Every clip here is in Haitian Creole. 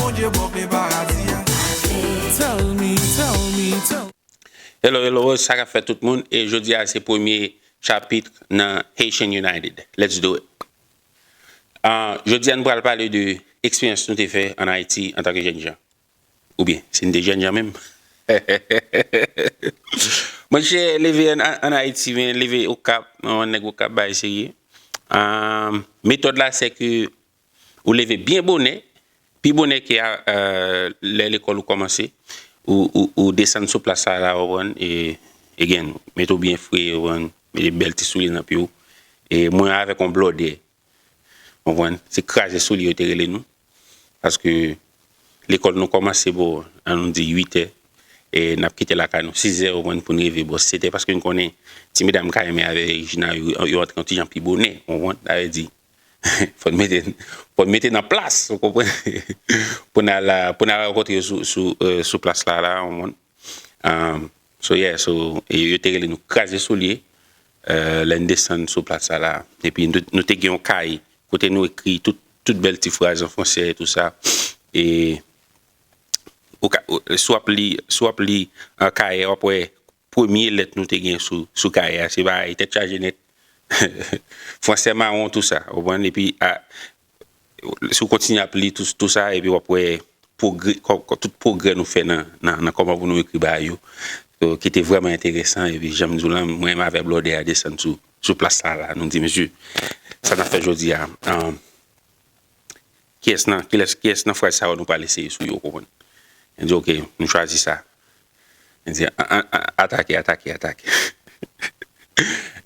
Bondye bon vle paradi a. Tell me, tell me, tell me. Hello hello sa kap fèt tout moun e jodi a se premye chapitre nan Haitian United let's do it ahh jodi a nou pral pale de eksperyans nou te fè an Ayiti antan ke jènjan ou byen si nou te jènjan menm hehehehehe mwen che leve an Ayiti men leve okap mwen nèg okap bagay serye ahh metòd la se ke Ou leve byen bonè, pi bonè ke lè lekòl ou kòmanse, ou desann sou plas la la ou konprann, again, mete w byen fre ou konprann, mete bèl ti soulye nan pye w, e mwen avèk yon blòdè ou konprann, se kraze soulye yo te rele nou, paske lekòl nou kòmanse bò an nou di 8 è, e n ap kite lakay nou 6 è ou konprann pou n rive bò 7 è, paske n konnen ti medam ka renmen avèk Regina yo antre yon ti jan pi bonè ou konprann, sa vle di. Fò n mete, fò n mete nan plas, ou konprann, pou n al, pou n al rankontre yo sou, sou, sou plas la, la, ou konprann. So yeah, so, e yo te rele nou kraze soulye, lè n desann sou plas sa la. Epi nou, nou te gen yon kaye kote nou ekri tout, tout bèl ti fraz an franse e tou sa. E ou ka, si w ap li, si w ap li kaye a, w ap wè premye lèt nou te gen sou kaye a se pa ay tèt chaje nèt fransè mawon tou sa ou konprann epi si w kontinye ap li tou sa epi w ap wè tout pwogrè nou fè nan kòman pou nou ekri bagay yo ki te vrèman enteresan epi jan m di w lan mwen menm avè blòdè a desann sou plas la la nou di mesye sa n ap fè jodi a Kiyès nan, kilès, kiyès nan fraz sa yo nou pral eseye sou yo, ou konprann? Yo di ok, nou chwazi sa. Yo di an, an, an, atake, atake, atake.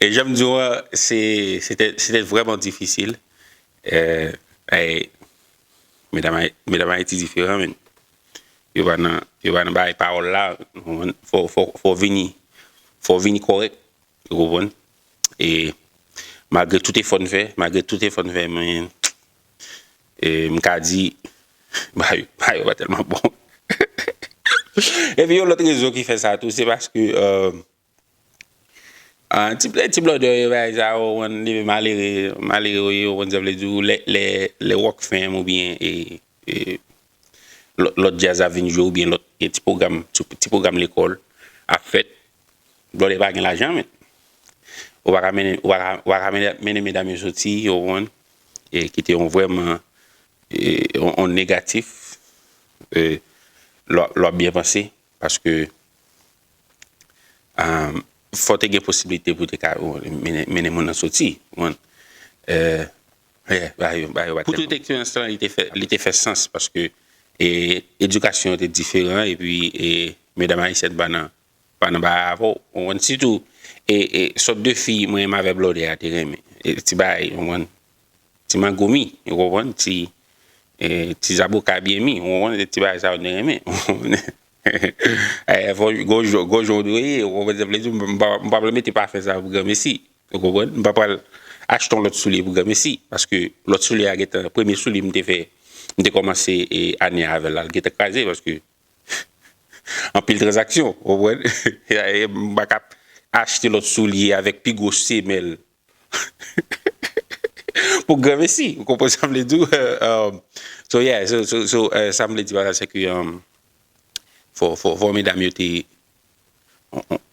E jan m di w an, se, se tè, se tè vrèman difisil. E, medam Ay, medam Ayiti diferan menn. Yo pa nan, yo pa nan bagay pawòl la, ou konprann? Fò w, fò w, fò w vini, fò w vini kòrèk, ou konprann? E malgre tout efò n fè, malgre tout efò n fè, men, e m ka di ba yo ba yo pa tèlman bon. Epi yon lòt rezon ki fè sa tou se paske ti plè ti blòdè yo bagay sa yo konn li menm malere malere ou ye ou konn sa vle di ou lè lè wòk fèm oubyen lòt djaz ap vin jwe oubyen lòt gen ti pwogram ti pwogram lekòl ap fèt blòdè pa gen lajan menn ou pa ka mennen ou pa ka mennen medam yo soti ou konprann e ki te yon vrèman yon negatif lò ap byen panse paske fò te gen posiblite pou te ka mennen moun nan soti ou konprann. Pou tout eksperyans lan li te fè sans paske edikasyon yo te diferan epi medam ayisyèn pa nan pa nan bagay avè w ou konprann sitou sòt de fi mwen menm avè Blòdè a te renmen ti bagay ou konprann ti magomi ou konprann ti zaboka byen mi ou konprann se ti bagay sa yo nou te renmen ou konprann gen yon jan ou dwe ye ou konprann sa m vle di m pa vle mete pafè sa pou granmesi Ou konprann? M pa pral achte yon lòt soulye pou granmesi, paske lòt soulye a gentan, premye soulye m te fè, m te kòmanse ane a avè l la, l gentan kraze paske anpil tranzaksyon, ou konprann? M pa ka achte lòt soulye avèk pi gwo semèl pou granmesi. Ou konprann sa m vle di w? So yeah, so sa m vle di pa la se ke fò medam yo te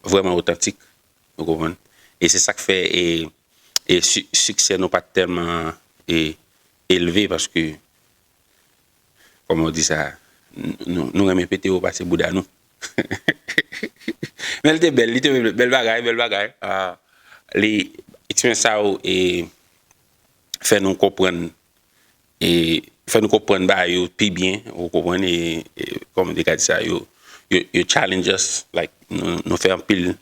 vrèman otantik. Ou konprann? E se sa k fè e e si siksè nou pa t tèlman e elve paske kòman w di sa nou nou renmen pete wo pase bouda nou. Men l te bèl, li te bèl, bèl bagay, bèl bagay. Li eksperyans sa yo e fè nou konprann E fè nou konprann bagay yo pi byen, ou konprann, e kòman te ka di sa, yo challenge us, like nou fè anpil,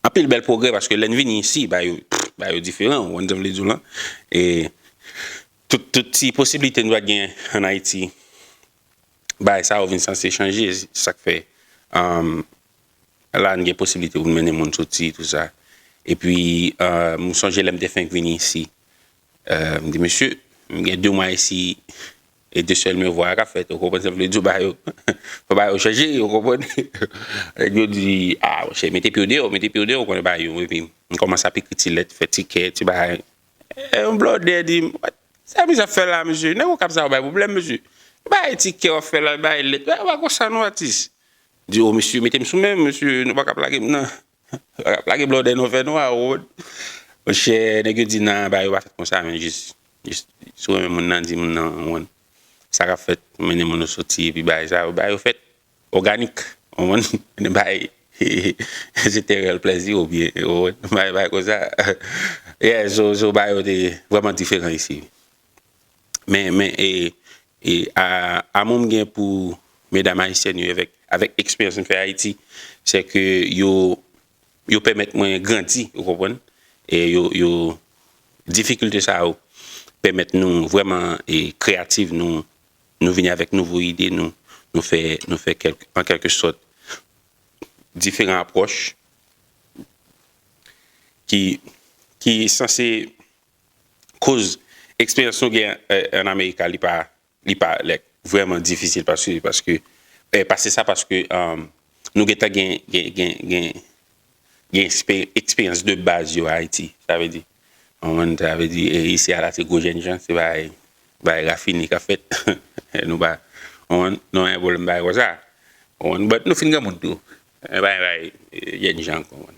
anpil bèl pwogrè paske lè n vini isi, bagay yo, bagay yo diferan, ou konprann sa m vle di w lan. E tout, tout ti posiblite nou pa t gen ann Ayiti, bagay sa yo vin sanse chanje, se sa k fè la n gen posiblite pou n mennen moun soti, tout sa. Epi m sonje lè m te fenk vini isi, M di mesye, m gen 2 mwa isi e 2 sèl men vwa a k ap fèt, ou konprann sa m vle di w, ba yo, fò ba yo chanje, ou konprann. Nèg yo di, a monchè, mete pye w deyò, mete pye w deyò, ou konnen ba yo. Epi m kòmanse ap ekri ti lèt, fè ti kè, ti bagay. E yon blòdè di m, what, sa misye ap fè la mesye, nèg Okap sa yo bay pwoblèm mesye. Ou bay ti kè w ap fè la, ou bay lèt, ou pa konn sa non atis. M di, o mesye, mete m sou men m mesye, nou pa ka plage m nan. Wap lage blòdè non fè nwa Rod. Monchè nèg yo di nan ba yo pa fèt konsa men jis si w renmen moun nan di moun nan ou konprann sa kap fèt mennen moun ou soti epi bagay sa yo bagay yo fèt òganik ou konprann mennen bagay se tè rèl plèzi ou byen ou konprann bagay konsa yè so bagay yo te vrèman diferan isi men men e E amou m gen pou medam ayisyèn yo evèk avèk eksperyans m fè Ayiti, sè ke yo yo pèmèt mwen grandi, ou konprann? E yo yo difikilte sa yo pèmèt nou vrèman e kreyativ, nou nou vini avèk nouvo ide, nou nou fè nou fè kèlk an kèlke sòt diferan apwòch ki ki sanse. koz eksperyans nou gen an Amerika li pa li pa like vrèman difisil paske paske pase sa paske nou gentan gen gen gen gen gen eksperyans de baz yo Ayiti sa vle di konprann sa vle di isi a la se gwo jènjan se bay bay rafine kap fèt nou pa konprann nou pa gen pwoblèm bagay konsa konprann but nou fin granmoun tou se pa yon bagay jènjan konprann.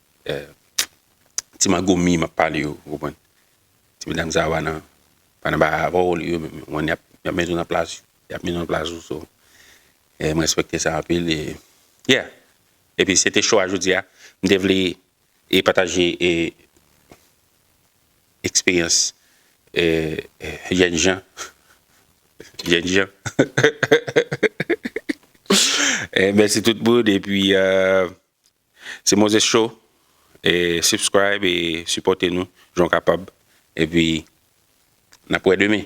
Ti magomi map pale yo ou konprann Ti medam sa yo pa nan pa nan bagay avèw li yo menm ou konprann yap yap met ou nan plas yap met ou nan plas ou so e m respekte sa anpil e yeah epi se te cho a jodi a m te vle e pataje e eksperyans e jènjan jènjan mèsi tout moun epi Se Moses Show e subscribe e sipòte nou jan w kapab epi n ap wè demen.